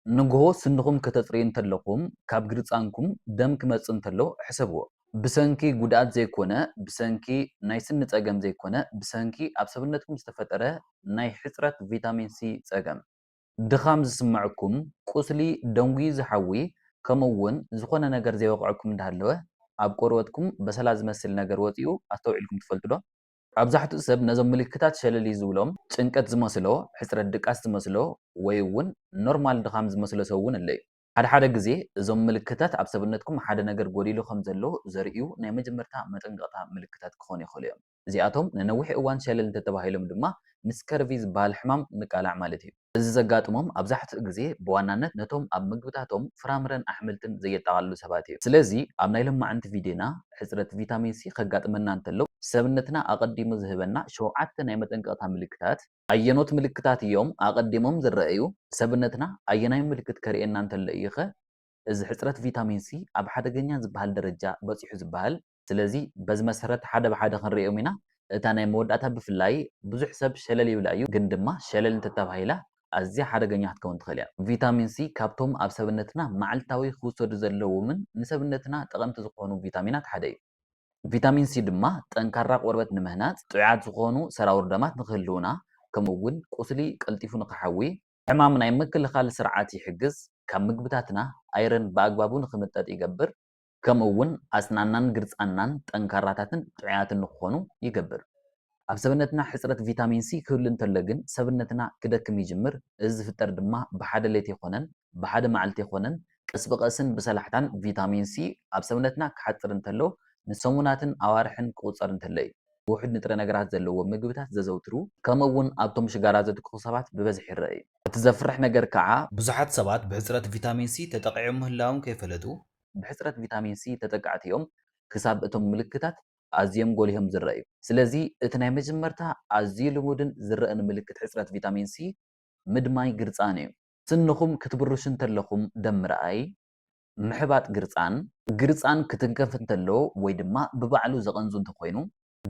ንግሆ ስንኹም ከተጽርዩ እንተለኹም ካብ ግርጻንኩም ደም ክመጽእ እንተሎ ሕሰብዎ። ብሰንኪ ጉድኣት ዘይኮነ፣ ብሰንኪ ናይ ስኒ ጸገም ዘይኮነ፣ ብሰንኪ ኣብ ሰብነትኩም ዝተፈጠረ ናይ ሕጽረት ቪታሚን ሲ ጸገም። ድኻም ዝስመዕኩም፣ ቁስሊ፣ ደንጉዩ ዝሓዊ፣ ከምኡ እውን ዝኾነ ነገር ዘይወቕዐኩም እንዳሃለወ ኣብ ቆርበትኩም በሰላ ዝመስል ነገር ወጺኡ ኣስተውዒልኩም ትፈልጡ ዶ? ኣብዛሕትኡ ሰብ ነዞም ምልክታት ሸለል እዩ ዝብሎም፣ ጭንቀት ዝመስሎ፣ ሕጽረት ድቃስ ዝመስሎ ወይ እውን ኖርማል ድኻም ዝመስሎ ሰብ እውን ኣሎ እዩ። ሓድሓደ ግዜ እዞም ምልክታት ኣብ ሰብነትኩም ሓደ ነገር ጎዲሉ ከም ዘሎ ዘርእዩ ናይ መጀመርታ መጠንቀቕታ ምልክታት ክኾኑ ይኽእሉ እዮም። እዚኣቶም ንነዊሕ እዋን ሸለል እንተተባሂሎም ድማ ምስ ከርቪ ዝበሃል ሕማም ንቃላዕ ማለት እዩ። እዚ ዘጋጥሞም ኣብዛሕትኡ ግዜ ብዋናነት ነቶም ኣብ ምግብታቶም ፍራምረን ኣሕምልትን ዘየጠቓልሉ ሰባት እዩ። ስለዚ ኣብ ናይ ሎማዕንቲ ቪድዮና ሕጽረት ቪታሚን ሲ ከጋጥመና እንተሎ ሰብነትና ኣቐዲሙ ዝህበና ሸውዓተ ናይ መጠንቀቕታ ምልክታት፣ ኣየኖት ምልክታት እዮም ኣቐዲሞም ዝረኣዩ፣ ሰብነትና ኣየናይ ምልክት ከርእየና እንተሎ እዩ'ኸ እዚ ሕጽረት ቪታሚን ሲ ኣብ ሓደገኛ ዝበሃል ደረጃ በጺሑ ዝበሃል፣ ስለዚ በዚ መሰረት ሓደ ብሓደ ክንርእዮም ኢና። እታ ናይ መወዳእታ ብፍላይ ብዙሕ ሰብ ሸለል ይብላ እዩ ግን ድማ ሸለል እንተተባሂላ ኣዝያ ሓደገኛ ክትከውን ትኽእል እያ። ቪታሚን ሲ ካብቶም ኣብ ሰብነትና መዓልታዊ ክውሰዱ ዘለዎምን ንሰብነትና ጠቐምቲ ዝኾኑ ቪታሚናት ሓደ እዩ። ቪታሚን ሲ ድማ ጠንካራ ቆርበት ንምህናጽ፣ ጥዑያት ዝኾኑ ሰራውር ደማት ንክህልዉና ከምኡ እውን ቁስሊ ቀልጢፉ ንክሓዊ፣ ሕማም ናይ ምክልኻል ስርዓት ይሕግዝ፣ ካብ ምግብታትና ኣይረን ብኣግባቡ ንክምጠጥ ይገብር፣ ከምኡ'ውን ኣስናንናን ግርጻንናን ጠንካራታትን ጥዑያትን ንኽኾኑ ይገብር። ኣብ ሰብነትና ሕጽረት ቪታሚን ሲ ክህሉ እንተሎ ግን ሰብነትና ክደክም ይጅምር፣ እዚ ዝፍጠር ድማ ብሓደ ለይቲ ኣይኮነን፣ ብሓደ መዓልቲ ኣይኮነን፣ ቀስ ብቐስን ብሰላሕታን ቪታሚን ሲ ኣብ ሰብነትና ክሓጽር እንተሎ ንሰሙናትን ኣዋርሕን ክቑጸር እንተሎ እዩ። ውሑድ ንጥረ ነገራት ዘለዎም ምግብታት ዘዘውትሩ፣ ከምኡ'ውን ኣብቶም ሽጋራ ዘትክኹ ሰባት ብበዝሒ ይረኣ እዩ። እቲ ዘፍርሕ ነገር ከኣ። ብዙሓት ሰባት ብሕጽረት ቪታሚን ሲ ተጠቒዖም ምህላዎም ከይፈለጡ ብሕጽረት ቪታሚን ሲ ተጠቃዕቲ እዮም፣ ክሳብ እቶም ምልክታት ኣዝዮም ጐሊሆም ዝረኣዩ። ስለዚ እቲ ናይ መጀመርታ ኣዝዩ ልሙድን ዝረእን ምልክት ሕጽረት ቪታሚን ሲ ምድማይ ግርጻን እዩ። ስንኹም ክትብርሹ እንተለኹም ደም ምርኣይ፣ ምሕባጥ ግርጻን፣ ግርጻን ክትንከፍ እንተሎ ወይ ድማ ብባዕሉ ዘቐንዙ እንተኾይኑ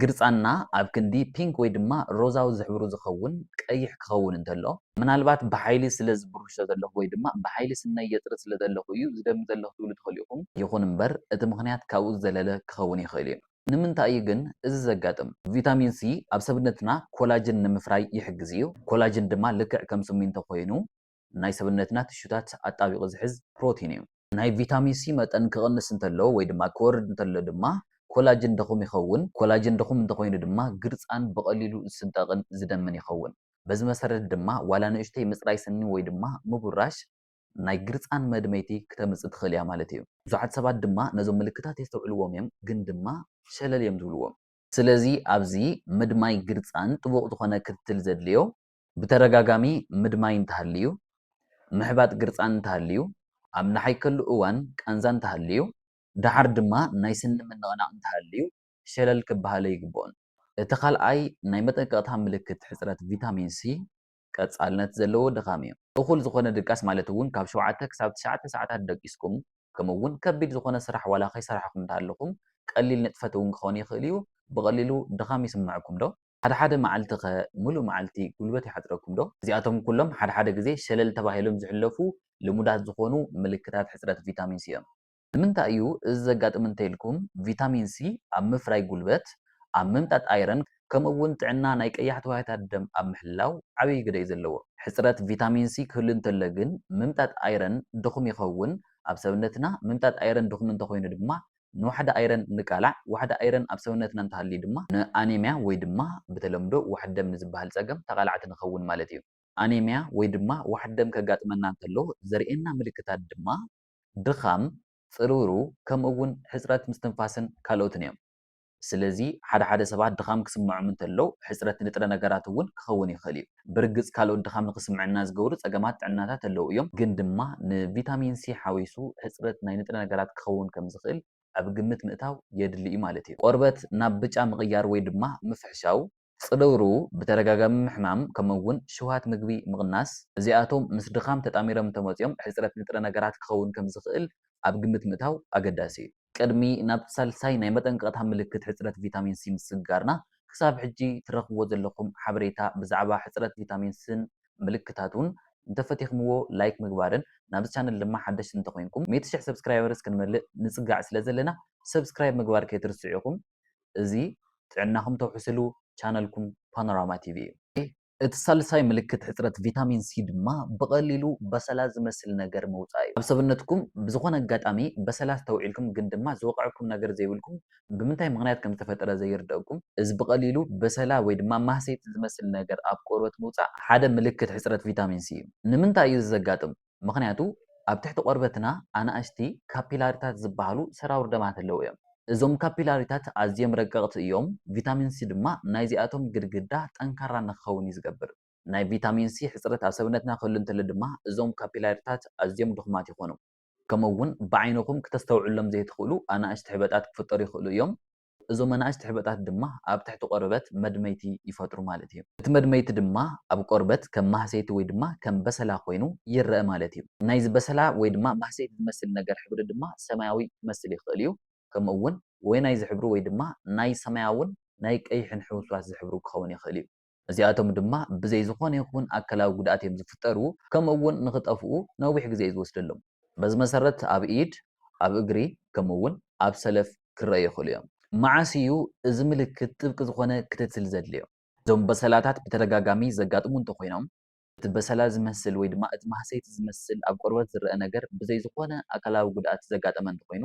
ግርጻንና ኣብ ክንዲ ፒንክ ወይ ድማ ሮዛዊ ዝሕብሩ ዝኸውን ቀይሕ ክኸውን እንተሎ፣ ምናልባት ብሓይሊ ስለ ዝብርሾ ዘለኹ ወይ ድማ ብሓይሊ ስነይ የጽሪ ስለ ዘለኹ እዩ ዝደሚ ዘለኹ ክትብሉ ትኽእሉ ኢኹም። ይኹን እምበር እቲ ምኽንያት ካብኡ ዝዘለለ ክኸውን ይኽእል እዩ። ንምንታይ እዩ ግን እዚ ዘጋጥም? ቪታሚን ሲ ኣብ ሰብነትና ኮላጅን ንምፍራይ ይሕግዝ እዩ። ኮላጅን ድማ ልክዕ ከም ስሚንቶ ኮይኑ ናይ ሰብነትና ቲሹታት ኣጣቢቑ ዝሕዝ ፕሮቲን እዩ። ናይ ቪታሚን ሲ መጠን ክቕንስ እንተሎ ወይ ድማ ክወርድ እንተሎ ድማ ኮላጅን ድኹም ይኸውን። ኮላጅን ድኹም እንተኾይኑ ድማ ግርጻን ብቐሊሉ ዝስንጠቕን ዝደምን ይኸውን። በዚ መሰረት ድማ ዋላ ንእሽተይ ምጽራይ ስኒ ወይ ድማ ምቡራሽ ናይ ግርጻን መድመይቲ ክተምጽእ ትኽእል እያ ማለት እዩ። ብዙሓት ሰባት ድማ ነዞም ምልክታት የስተውዕልዎም እዮም ግን ድማ ሸለል እዮም ዝብልዎም። ስለዚ ኣብዚ ምድማይ ግርጻን ጥቡቕ ዝኾነ ክትትል ዘድልዮ ብተደጋጋሚ ምድማይ እንተሃልዩ፣ ምሕባጥ ግርጻን እንተሃልዩ፣ ኣብ ንሓይከሉ እዋን ቃንዛ እንተሃልዩ፣ ደሓር ድማ ናይ ስኒ ምንቕናቕ እንተሃልዩ ሸለል ክበሃለ ኣይግብኦን። እቲ ካልኣይ ናይ መጠንቀቕታ ምልክት ሕጽረት ቪታሚን ሲ ቀጻልነት ዘለዎ ድኻም እዩ። እኹል ዝኾነ ድቃስ ማለት እውን ካብ ሸውዓተ ክሳብ ትሽዓተ ሰዓታት ደቂስኩም ከምኡ እውን ከቢድ ዝኾነ ስራሕ ዋላ ከይሰራሕኹም እንተሃለኹም ቀሊል ንጥፈት እውን ክኸውን ይኽእል እዩ ብቐሊሉ ድኻም ይስመዐኩም ዶ? ሓደ ሓደ መዓልቲ ከ ምሉእ መዓልቲ ጉልበት ይሓጽረኩም ዶ? እዚኣቶም ኩሎም ሓደ ሓደ ግዜ ሸለል ተባሂሎም ዝሕለፉ ልሙዳት ዝኾኑ ምልክታት ሕጽረት ቪታሚን ሲ እዮም። ንምንታይ እዩ እዚ ዘጋጥም እንተኢልኩም ቪታሚን ሲ ኣብ ምፍራይ ጉልበት፣ ኣብ ምምጣጥ ኣይረን ከምኡ እውን ጥዕና ናይ ቀያሕቲ ዋህዮታት ደም ኣብ ምሕላው ዓብይ ግደ እዩ ዘለዎ። ሕጽረት ቪታሚን ሲ ክህሉ እንተሎ ግን ምምጣጥ ኣይረን ድኹም ይኸውን፣ ኣብ ሰብነትና ምምጣጥ ኣይረን ድኹም እንተኾይኑ ድማ ንዋሕዲ ኣይረን እንቃላዕ፣ ዋሕዲ ኣይረን ኣብ ሰውነትና እንተሃልዩ ድማ ንኣኔምያ ወይ ድማ ብተለምዶ ዋሕዲ ደም ንዝበሃል ጸገም ተቓላዕቲ ንኸውን ማለት እዩ። ኣኔምያ ወይ ድማ ዋሕዲ ደም ከጋጥመና እንከሎ ዘርእየና ምልክታት ድማ ድኻም፣ ጽርውሩ ከምኡ እውን ሕጽረት ምስትንፋስን ካልኦትን እዮም። ስለዚ ሓደ ሓደ ሰባት ድኻም ክስምዖም እንተሎ ሕጽረት ንጥረ ነገራት እውን ክኸውን ይኽእል እዩ። ብርግጽ ካልኦት ድኻም ንኽስምዐና ዝገብሩ ጸገማት ጥዕናታት ኣለዉ እዮም፣ ግን ድማ ንቪታሚን ሲ ሓዊሱ ሕጽረት ናይ ንጥረ ነገራት ክኸውን ከም ዝኽእል ኣብ ግምት ምእታው የድሊ እዩ ማለት እዩ። ቆርበት ናብ ብጫ ምቕያር ወይ ድማ ምፍሕሻው፣ ጽልውርው፣ ብተደጋጋሚ ምሕማም፣ ከምኡ'ውን ሽውሃት ምግቢ ምቕናስ፣ እዚኣቶም ምስ ድኻም ተጣሚሮም እንተመጺኦም ሕጽረት ንጥረ ነገራት ክኸውን ከም ዝኽእል ኣብ ግምት ምእታው ኣገዳሲ እዩ። ቅድሚ ናብ ሳልሳይ ናይ መጠንቀቕታ ምልክት ሕጽረት ቪታሚን ሲ ምስግጋርና፣ ክሳብ ሕጂ ትረኽብዎ ዘለኹም ሓበሬታ ብዛዕባ ሕጽረት ቪታሚን ሲን ምልክታቱን እንተፈቲኽምዎ ላይክ ምግባርን ናብዚ ቻነል ድማ ሓደሽቲ እንተኾይንኩም ሚእቲ ሽሕ ሰብስክራይበርስ ክንመልእ ንጽጋዕ ስለዘለና ሰብስክራይብ ምግባር ከይትርስዑ ኢኹም እዚ ጥዕናኹም ተውሕስሉ ቻነልኩም ፓኖራማ ቲቪ እዩ። እቲ ሳልሳይ ምልክት ሕጽረት ቪታሚን ሲ ድማ ብቐሊሉ በሰላ ዝመስል ነገር ምውጻእ እዩ። ኣብ ሰብነትኩም ብዝኾነ ኣጋጣሚ በሰላ ኣስተውዒልኩም ግን ድማ ዝወቐዐኩም ነገር ዘይብልኩም ብምንታይ ምኽንያት ከም ዝተፈጠረ ዘይርደኣኩም፣ እዚ ብቐሊሉ በሰላ ወይ ድማ ማህሰይቲ ዝመስል ነገር ኣብ ቆርበት ምውጻእ ሓደ ምልክት ሕጽረት ቪታሚን ሲ እዩ። ንምንታይ እዩ እዚ ዘጋጥም? ምኽንያቱ ኣብ ትሕቲ ቆርበትና ኣናእሽቲ ካፒላሪታት ዝበሃሉ ሰራውር ደማት ኣለዉ እዮም። እዞም ካፒላሪታት ኣዝዮም ረቀቕቲ እዮም፣ ቪታሚን ሲ ድማ ናይዚኣቶም ግድግዳ ጠንካራ ንክኸውን እዩ ዝገብር። ናይ ቪታሚን ሲ ሕጽረት ኣብ ሰብነትና ክህሉ እንተሎ ድማ እዞም ካፒላሪታት ኣዝዮም ድኹማት ይኾኑ። ከምኡ'ውን ብዓይንኹም ክተስተውዕሎም ዘይትኽእሉ ኣናእሽቲ ሕበጣት ክፍጠሩ ይኽእሉ እዮም። እዞም ኣናእሽቲ ሕበጣት ድማ ኣብ ትሕቲ ቆርበት መድመይቲ ይፈጥሩ ማለት እዩ። እቲ መድመይቲ ድማ ኣብ ቆርበት ከም ማህሰይቲ ወይ ድማ ከም በሰላ ኮይኑ ይረኣ ማለት እዩ። ናይዚ በሰላ ወይ ድማ ማህሰይቲ ዝመስል ነገር ሕብሪ ድማ ሰማያዊ ክመስል ይኽእል እዩ። ከምኡ እውን ወይናይ ዝሕብሩ ወይ ድማ ናይ ሰማያውን ናይ ቀይሕን ሕውስዋስ ዝሕብሩ ክኸውን ይኽእል እዩ። እዚኣቶም ድማ ብዘይ ዝኾነ ይኹን ኣካላዊ ጉድኣት እዮም ዝፍጠሩ ከምኡ እውን ንኽጠፍኡ ነዊሕ ግዜ እዩ ዝወስደሎም። በዚ መሰረት ኣብ ኢድ፣ ኣብ እግሪ ከምኡ እውን ኣብ ሰለፍ ክረኣዩ ይኽእሉ እዮም። መዓስ እዩ እዚ ምልክት ጥብቂ ዝኾነ ክትትል ዘድልዮ? እዞም በሰላታት ብተደጋጋሚ ዘጋጥሙ እንተኾይኖም፣ እቲ በሰላ ዝመስል ወይ ድማ እቲ ማህሰይቲ ዝመስል ኣብ ቆርበት ዝረኣ ነገር ብዘይ ዝኾነ ኣካላዊ ጉድኣት ዘጋጠመ እንተኾይኑ፣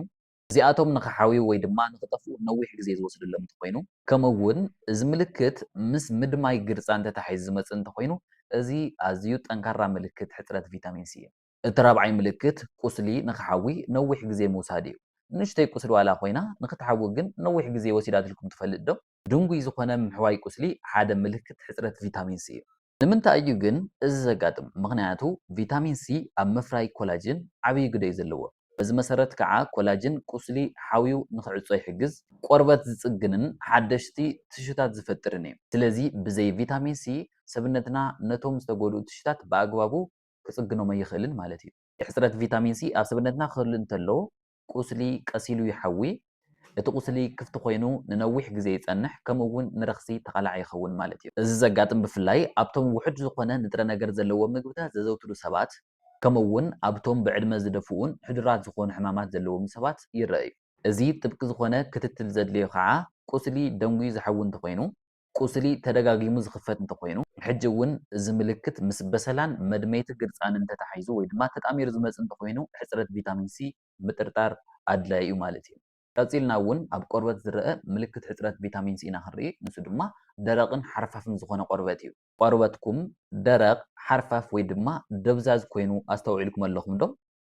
እዚኣቶም ንኽሓውዩ ወይ ድማ ንኽጠፍኡ ነዊሕ ግዜ ዝወስደሎም እንተኾይኑ፣ ከምኡ'ውን እዚ ምልክት ምስ ምድማይ ግርጻን ተታሒዙ ዝመጽእ እንተኾይኑ፣ እዚ ኣዝዩ ጠንካራ ምልክት ሕጽረት ቪታሚን ሲ እዩ። እቲ ራብዓይ ምልክት ቁስሊ ንኽሓዊ ነዊሕ ግዜ ምውሳድ እዩ። ንእሽተይ ቁስሊ ዋላ ኮይና ንኽትሓዊ ግን ነዊሕ ግዜ ወሲዳትልኩም ትፈልጥ ዶ? ድንጉይ ዝኾነ ምሕዋይ ቁስሊ ሓደ ምልክት ሕጽረት ቪታሚን ሲ እዩ። ንምንታይ እዩ ግን እዚ ዘጋጥም? ምኽንያቱ ቪታሚን ሲ ኣብ ምፍራይ ኮላጅን ዓብዪ ግደ እዩ ዘለዎ። በዚ መሰረት ከዓ ኮላጅን ቁስሊ ሓውዩ ንክዕፆ ይሕግዝ፣ ቆርበት ዝፅግንን ሓደሽቲ ቲሹታት ዝፈጥርን እዩ። ስለዚ ብዘይ ቪታሚን ሲ ሰብነትና ነቶም ዝተጎድኡ ቲሹታት ብኣግባቡ ክፅግኖም ኣይኽእልን ማለት እዩ። ሕፅረት ቪታሚን ሲ ኣብ ሰብነትና ክህሉ እንተለዎ ቁስሊ ቀሲሉ ይሓዊ፣ እቲ ቁስሊ ክፍቲ ኮይኑ ንነዊሕ ግዜ ይጸንሕ ከምኡ እውን ንረኽሲ ተቓላዒ ይኸውን ማለት እዩ። እዚ ዘጋጥም ብፍላይ ኣብቶም ውሑድ ዝኾነ ንጥረ ነገር ዘለዎም ምግብታት ዘዘውትሩ ሰባት ከምኡ እውን ኣብቶም ብዕድመ ዝደፍኡን ሕዱራት ዝኾኑ ሕማማት ዘለዎምን ሰባት ይረኣ እዩ። እዚ ጥብቂ ዝኾነ ክትትል ዘድልዮ ከዓ ቁስሊ ደንጒዩ ዝሓዊ እንተኾይኑ ቁስሊ ተደጋጊሙ ዝኽፈት እንተኾይኑ፣ ሕጂ እውን እዚ ምልክት ምስ በሰላን መድመይቲ ግርጻንን ተተሓሒዙ ወይ ድማ ተጣሚሩ ዝመጽእ እንተኾይኑ ሕጽረት ቪታሚን ሲ ምጥርጣር ኣድላዪ እዩ ማለት እዩ። ቀጺልና እውን ኣብ ቆርበት ዝረኣ ምልክት ሕጽረት ቪታሚን ሲ ኢና ክንርኢ፣ ንሱ ድማ ደረቕን ሓርፋፍን ዝኾነ ቆርበት እዩ። ቆርበትኩም ደረቕ፣ ሓርፋፍ ወይ ድማ ደብዛዝ ኮይኑ ኣስተውዒልኩም ኣለኹም ዶ?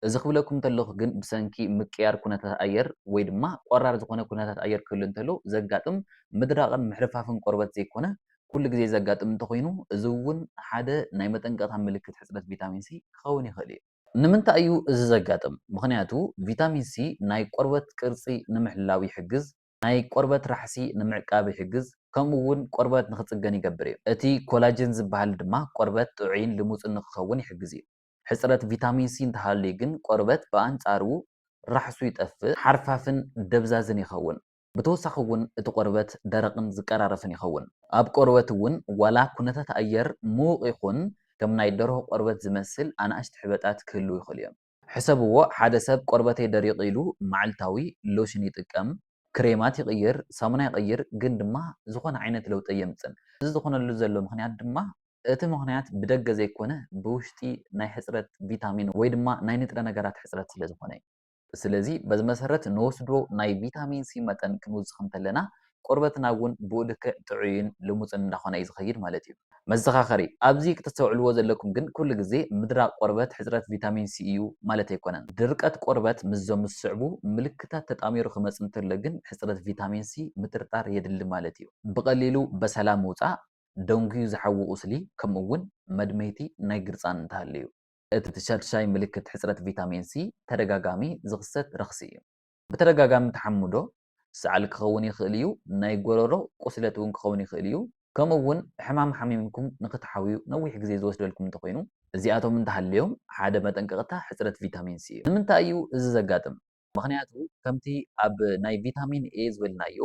እዚ ክብለኩም እንተለኹ ግን ብሰንኪ ምቅያር ኩነታት ኣየር ወይ ድማ ቆራር ዝኾነ ኩነታት ኣየር ክህሉ እንተሎ ዘጋጥም ምድራቕን ምሕርፋፍን ቆርበት ዘይኮነ ኩሉ ግዜ ዘጋጥም እንተኾይኑ እዚ እውን ሓደ ናይ መጠንቀቕታ ምልክት ሕፅረት ቪታሚን ሲ ክኸውን ይኽእል እዩ። ንምንታይ እዩ እዚ ዘጋጥም? ምኽንያቱ ቪታሚን ሲ ናይ ቆርበት ቅርፂ ንምሕላው ይሕግዝ፣ ናይ ቆርበት ራሕሲ ንምዕቃብ ይሕግዝ ከምኡ እውን ቆርበት ንኽፅገን ይገብር እዩ። እቲ ኮላጅን ዝበሃል ድማ ቆርበት ጥዑይን ልሙፅን ንኽኸውን ይሕግዝ እዩ። ሕጽረት ቪታሚን ሲ እንተሃልዩ ግን ቆርበት ብኣንጻሩ ራሕሱ ይጠፍእ፣ ሓርፋፍን ደብዛዝን ይኸውን። ብተወሳኺ እውን እቲ ቆርበት ደረቕን ዝቀራረፍን ይኸውን። ኣብ ቆርበት እውን ዋላ ኩነታት ኣየር ምዉቕ ይኹን ከም ናይ ደርሆ ቆርበት ዝመስል ኣናእሽቲ ሕበጣት ክህልዉ ይኽእሉ እዮም። ሕሰብዎ ሓደ ሰብ ቆርበተይ ደሪቑ ኢሉ መዓልታዊ ሎሽን ይጥቀም፣ ክሬማት ይቕይር፣ ሳሙና ይቕይር ግን ድማ ዝኾነ ዓይነት ለውጢ ኣየምጽእን። እዚ ዝኾነሉ ዘሎ ምኽንያት ድማ እቲ ምኽንያት ብደገ ዘይኮነ ብውሽጢ ናይ ሕጽረት ቪታሚን ወይ ድማ ናይ ንጥረ ነገራት ሕጽረት ስለ ዝኾነ እዩ። ስለዚ በዚ መሰረት ንወስዶ ናይ ቪታሚን ሲ መጠን ክንውስኽ እንተለና ቆርበትና እውን ብኡ ልክዕ ጥዑይን ልሙጽን እንዳኾነ እዩ ዝኸይድ ማለት እዩ። መዘኻኸሪ፣ ኣብዚ ክተስተውዕልዎ ዘለኩም ግን ኩሉ ግዜ ምድራቕ ቆርበት ሕጽረት ቪታሚን ሲ እዩ ማለት ኣይኮነን። ድርቀት ቆርበት ምስዞም ዝስዕቡ ምልክታት ተጣሚሩ ክመጽእ እንተሎ ግን ሕጽረት ቪታሚን ሲ ምጥርጣር የድሊ ማለት እዩ። ብቐሊሉ በሰላ ምውጻእ፣ ደንጉዩ ዝሓዊ ቁስሊ ከምኡ'ውን መድመይቲ ናይ ግርጻን እንተሃልዩ። እቲ ሻድሻይ ምልክት ሕጽረት ቪታሚን ሲ ተደጋጋሚ ዝኽሰት ረኽሲ እዩ። ብተደጋጋሚ ተሓምዶ፣ ሰዓል ክኸውን ይኽእል እዩ፣ ናይ ጎረሮ ቁስለት እውን ክኸውን ይኽእል እዩ፣ ከምኡ'ውን ሕማም ሓሚምኩም ንኽትሓውዩ ነዊሕ ግዜ ዝወስደልኩም እንተኾይኑ። እዚኣቶም እንተሃልዮም ሓደ መጠንቀቕታ ሕጽረት ቪታሚን ሲ እዩ። ንምንታይ እዩ እዚ ዘጋጥም? ምኽንያቱ ከምቲ ኣብ ናይ ቪታሚን ኤ ዝበልናዮ፣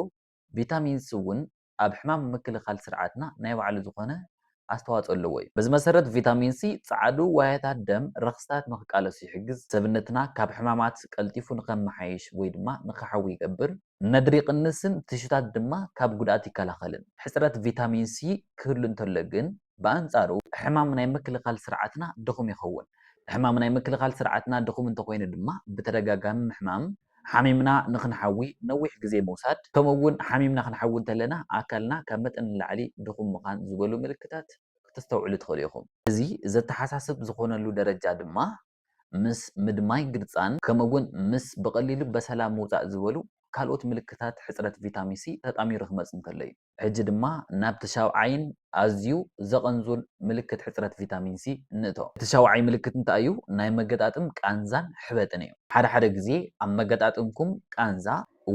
ቪታሚን ሲ እውን ኣብ ሕማም ምክልኻል ስርዓትና ናይ ባዕሉ ዝኾነ ኣስተዋፅኦ ኣለዎ ዩ። በዚ መሰረት ቪታሚን ሲ ፃዓዱ ዋህያታት ደም ረኽስታት ንክቃለሱ ይሕግዝ፣ ሰብነትና ካብ ሕማማት ቀልጢፉ ንከመሓይሽ ወይ ድማ ንክሓዊ ይገብር፣ ነድሪ ይቕንስን ቲሹታት ድማ ካብ ጉድኣት ይከላኸልን። ሕፅረት ቪታሚን ሲ ክህሉ እንተሎ ግን ብኣንፃሩ ሕማም ናይ ምክልኻል ስርዓትና ድኹም ይኸውን። ሕማም ናይ ምክልኻል ስርዓትና ድኹም እንተኾይኑ ድማ ብተደጋጋሚ ምሕማም፣ ሓሚምና ንኽንሓዊ ነዊሕ ግዜ ምውሳድ፣ ከምኡ'ውን ሓሚምና ክንሓዊ እንተለና ኣካልና ካብ መጠን ንላዕሊ ድኹም ምኻን ዝበሉ ምልክታት ክተስተውዕሉ ትኽእሉ ኢኹም። እዚ ዘተሓሳስብ ዝኾነሉ ደረጃ ድማ ምስ ምድማይ ግርጻን ከምኡ'ውን ምስ ብቐሊሉ በሰላ ምውጻእ ዝበሉ ካልኦት ምልክታት ሕጽረት ቪታሚን ሲ ተጣሚሩ ክመጽእ እንከሎ እዩ። ሕጂ ድማ ናብቲ ሻውዓይን ኣዝዩ ዘቐንዙን ምልክት ሕጽረት ቪታሚን ሲ ንእቶ። እቲ ሻውዓይ ምልክት እንታይ እዩ? ናይ መገጣጥም ቃንዛን ሕበጥን እዩ። ሓደ ሓደ ግዜ ኣብ መገጣጥምኩም ቃንዛ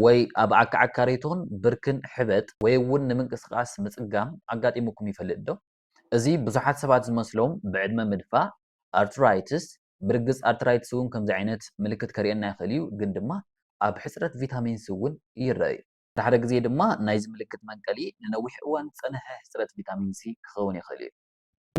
ወይ ኣብ ኣካዕካሪቶን ብርክን ሕበጥ ወይ'ውን ንምንቅስቓስ ምጽጋም ኣጋጢሙኩም ይፈልጥ'ዶ? እዚ ብዙሓት ሰባት ዝመስሎም ብዕድመ ምድፋእ፣ ኣርትራይትስ፣ ብርግጽ ኣርትራይትስ እውን ከምዚ ዓይነት ምልክት ከርእየና ይኽእል እዩ፣ ግን ድማ ኣብ ሕጽረት ቪታሚን ሲ እውን ይረኣ'ዩ። ድሕሪ ግዜ ድማ ናይዚ ምልክት መንቀሊ ንነዊሕ እዋን ዝጸንሐ ሕጽረት ቪታሚን ሲ ክኸውን ይኽእል እዩ።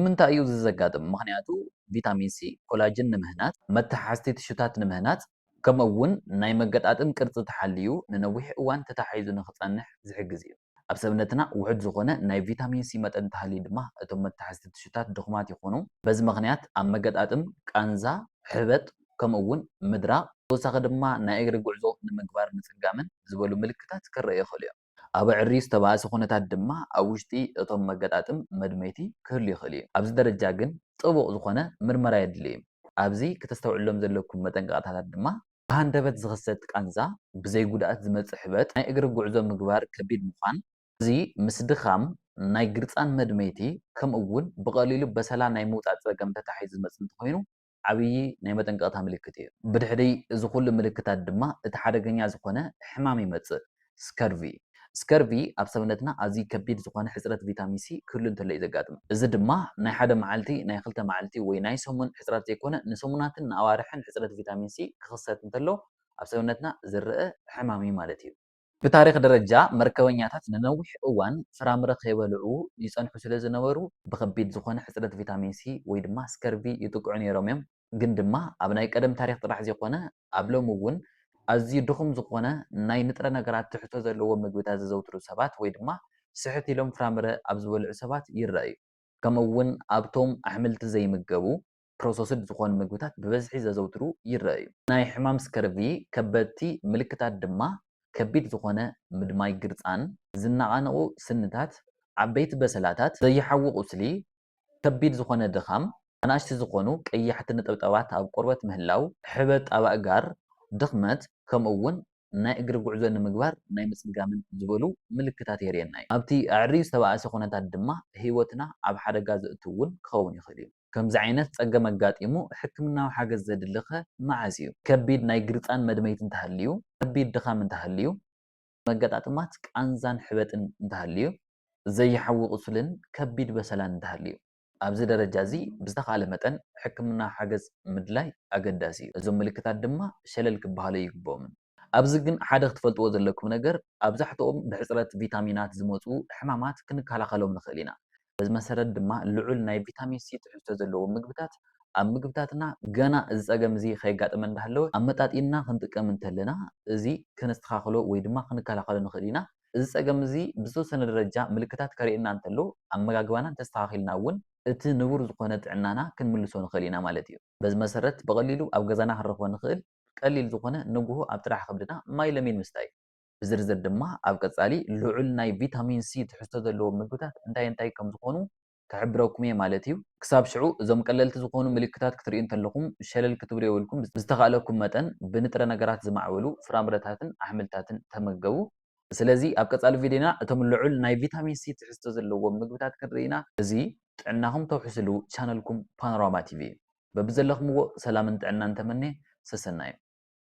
ንምንታይ እዩ እዚ ዘጋጥም? ምኽንያቱ ቪታሚን ሲ ኮላጅን ንምህናጽ፣ መተሓሓዝቲ ቲሹታት ንምህናጽ፣ ከምኡ'ውን ናይ መገጣጥም ቅርጺ ተሓልዩ ንነዊሕ እዋን ተተሓሒዙ ንኽጸንሕ ዝሕግዝ እዩ። ኣብ ሰብነትና ውሑድ ዝኾነ ናይ ቪታሚን ሲ መጠን እንተሃልዩ ድማ እቶም መተሓሓዝቲ ቲሹታት ድኹማት ይኾኑ፣ በዚ ምኽንያት ኣብ መገጣጥም ቃንዛ፣ ሕበጥ፣ ከምኡ እውን ምድራቕ፣ ብተወሳኺ ድማ ናይ እግሪ ጉዕዞ ንምግባር ምጽጋምን ዝበሉ ምልክታት ክረኣዩ ይኽእሉ እዮም። ኣብ ኣዕርዩ ዝተባእሰ ኩነታት ድማ ኣብ ውሽጢ እቶም መገጣጥም መድመይቲ ክህሉ ይኽእል እዩ። ኣብዚ ደረጃ ግን ጥቡቕ ዝኾነ ምርመራ የድሊ እዩ። ኣብዚ ክተስተውዕሉሎም ዘለኩም መጠንቀቕታታት ድማ። ብሃንደበት ዝኽሰት ቃንዛ፣ ብዘይ ጉድኣት ዝመጽእ ሕበጥ፣ ናይ እግሪ ጉዕዞ ምግባር ከቢድ ምዃን፣ እዚ ምስ ድኻም፣ ናይ ግርጻን መድመይቲ ከምኡ እውን ብቐሊሉ በሰላ ናይ ምውጻእ ጸገም ተተሓሒዙ ዝመጽእ እንተኾይኑ ዓብዪ ናይ መጠንቀቕታ ምልክት እዩ። ብድሕሪ እዚ ኹሉ ምልክታት ድማ እቲ ሓደገኛ ዝኾነ ሕማም ይመጽእ፣ ስከርቪ። ስከርቪ ኣብ ሰብነትና ኣዝዩ ከቢድ ዝኾነ ሕጽረት ቪታሚን ሲ ክህሉ እንተሎ እዩ ዘጋጥም። እዚ ድማ ናይ ሓደ መዓልቲ፣ ናይ ክልተ መዓልቲ ወይ ናይ ሰሙን ሕጽረት ዘይኮነ ንሰሙናትን ንኣዋርሕን ሕጽረት ቪታሚን ሲ ክኽሰት እንተሎ ኣብ ሰብነትና ዝረኣ ሕማም እዩ ማለት እዩ። ብታሪኽ ደረጃ መርከበኛታት ንነዊሕ እዋን ፍራምረ ከይበልዑ ይጸንሑ ስለ ዝነበሩ ብኸቢድ ዝኾነ ሕጽረት ቪታሚን ሲ ወይ ድማ ስከርቪ ይጥቅዑ ነይሮም እዮም። ግን ድማ ኣብ ናይ ቀደም ታሪኽ ጥራሕ ዘይኮነ ኣብ ሎሚ እውን ኣዝዩ ድኹም ዝኾነ ናይ ንጥረ ነገራት ትሕዝቶ ዘለዎም ምግብታት ዘዘውትሩ ሰባት ወይ ድማ ስሕት ኢሎም ፍራምረ ኣብ ዝበልዑ ሰባት ይረኣ እዩ። ከምኡ እውን ኣብቶም ኣሕምልቲ ዘይምገቡ፣ ፕሮሰስድ ዝኾኑ ምግብታት ብበዝሒ ዘዘውትሩ ይረኣዩ። ናይ ሕማም ስከርቪ ከበድቲ ምልክታት ድማ ከቢድ ዝኾነ ምድማይ ግርጻን፣ ዝነቓነቑ ስንታት፣ ዓበይቲ በሰላታት፣ ዘይሓዊ ቁስሊ፣ ከቢድ ዝኾነ ድኻም፣ ኣናእሽቲ ዝኾኑ ቀያሕቲ ነጠብጣባት ኣብ ቆርበት ምህላው፣ ሕበጥ ኣብ ኣእጋር፣ ድኽመት፣ ከምኡ'ውን ናይ እግሪ ጉዕዞ ንምግባር ናይ ምጽጋምን ዝበሉ ምልክታት የርእየና እዩ። ኣብቲ ኣዐርዩ ዝተባእሰ ኩነታት ድማ ህይወትና ኣብ ሓደጋ ዘእቱ እውን ክኸውን ይኽእል እዩ። ከምዚ ዓይነት ጸገም ኣጋጢሙ ሕክምናዊ ሓገዝ ዘድሊ'ኸ መዓዝ እዩ? ከቢድ ናይ ግርጻን መድመይቲ እንተሃልዩ፣ ከቢድ ድኻም እንተሃልዩ፣ መገጣጥማት ቃንዛን ሕበጥን እንተሃልዩ፣ ዘይሓዊ ቁስልን ከቢድ በሰላን እንተሃልዩ። ኣብዚ ደረጃ እዚ ብዝተኻእለ መጠን ሕክምናዊ ሓገዝ ምድላይ ኣገዳሲ እዩ። እዞም ምልክታት ድማ ሸለል ክበሃሉ ኣይግብኦምን። ኣብዚ ግን ሓደ ክትፈልጥዎ ዘለኩም ነገር ኣብዛሕትኦም ብሕጽረት ቪታሚናት ዝመጹ ሕማማት ክንከላኸሎም ንኽእል ኢና። በዚ መሰረት ድማ ልዑል ናይ ቪታሚን ሲ ትሕዝቶ ዘለዎም ምግብታት ኣብ ምግብታትና ገና እዚ ጸገም እዚ ከየጋጠመ እንዳሃለወ ኣመጣጢንና ክንጥቀም እንተለና እዚ ከነስተኻኽሎ ወይ ድማ ክንከላኸሎ ንኽእል ኢና። እዚ ጸገም እዚ ብዝተወሰነ ደረጃ ምልክታት ከርእየና እንተሎ ኣመጋግባና እንተስተኻኺልና እውን እቲ ንቡር ዝኾነ ጥዕናና ክንምልሶ ንኽእል ኢና ማለት እዩ። በዚ መሰረት ብቐሊሉ ኣብ ገዛና ክንረኽቦ ንኽእል ቀሊል ዝኾነ ንጉሆ ኣብ ጥራሕ ከብድና ማይ ለሚን ምስታይ። ብዝርዝር ድማ ኣብ ቀፃሊ ልዑል ናይ ቪታሚን ሲ ትሕዝቶ ዘለዎም ምግብታት እንታይ እንታይ ከም ዝኾኑ ክሕብረኩም እየ ማለት እዩ። ክሳብ ሽዑ እዞም ቀለልቲ ዝኾኑ ምልክታት ክትርእዩ እንተለኹም ሸለል ክትብሉ የብልኩም ብዝተኻእለኩም መጠን ብንጥረ ነገራት ዝማዕበሉ ፍራምረታትን ኣሕምልታትን ተመገቡ። ስለዚ ኣብ ቀጻሊ ቪድዮና እቶም ልዑል ናይ ቪታሚን ሲ ትሕዝቶ ዘለዎም ምግብታት ክንርኢ ኢና። እዚ ጥዕናኹም ተውሕስሉ ቻነልኩም ፓኖራማ ቲቪ እዩ። በብዘለኽምዎ ሰላምን ጥዕናን ተመንየ፣ ሰሰናዩ።